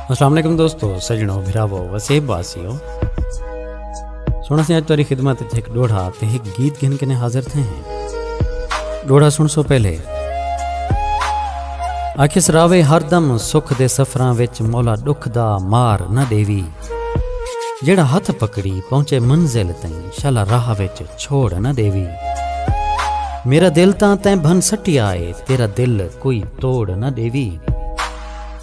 السلام علیکم دوستو سجنو بھراو وسیب واسیو سونا سے آج تاری خدمت تھے ایک ڈوڑھا تھے ایک گیت گھن کنے حاضر تھے ہیں ڈوڑھا سن سو پہلے آکھس راوے ہر دم سکھ دے سفران وچ مولا ڈکھ دا مار نہ دیوی جیڑھا ہتھ پکڑی پہنچے منزل تئیں شلا راہ وچ چھوڑ نہ ڈیوی میرا دل تاں تیں بھن سٹیا اے تیرا دل کوئی توڑ نہ ڈیوی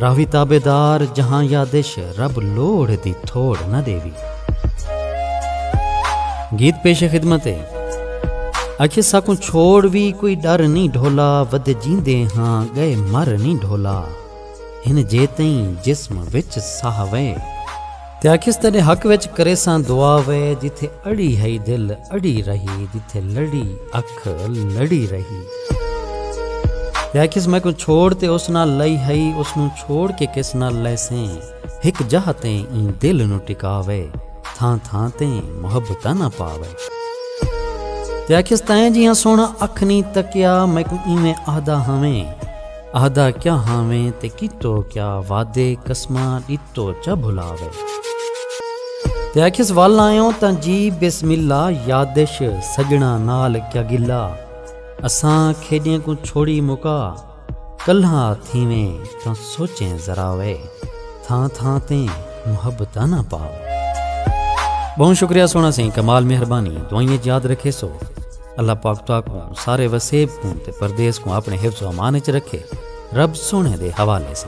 راہوی تابے دار جہاں یادش رب لوڑھ دی تھوڑ نہ ڈیوی گیت پیش خدمت ہے اکھے ساکوں چھوڑ وی کوئی ڈر نہیں ڈھولا ود جیندے ہاں گئے مر نہیں ڈھولا ہن جیتئیں جسم وچ ساہ وئے۔ تے آکھیس تیݙے حق وچ کریساں دعا وئے۔ جتھے اڑی ہئی دل اڑی رہی۔ جتھے لڑی اکھ لڑی رہی۔ تے آکھیس میکوں چھوڑ تے اس نال لئی ہئی۔ اس نوں چھوڑ کے کس نال لیسیں۔ ہک جاہ تے ایں دل نوں ٹکا وئے۔ تھاں تھاں تے محبتاں نہ پا وئے۔ تے آکھیس تیں جیہاں سوہݨا اکھ نئیں تکیا۔ میکوں ایویں آہدا ہاویں۔ اہدا کیا ہاویں تے کیتو کیا وعدے قسماں ڈتو چا بھلاوے۔ تے آکھیس ول آیوں تاں جی بسم اللہ یادش سجناں نال کیا گلا اساں کھیڈیں کوں چھوڑی مکا کلہا تھیویں تاں سوچیں ذراوے تھاں تھاں تے محبتاں نہ پاوے۔ بہوں شکریہ سونا سیں کمال مہربانی دوائیں اچ یاد رکھے سو۔ اللہ پاک تو کو سارے وسیب کو تے پردیس کو اپنے حفظ و امان وچ رکھے رب سونے دے حوالے سے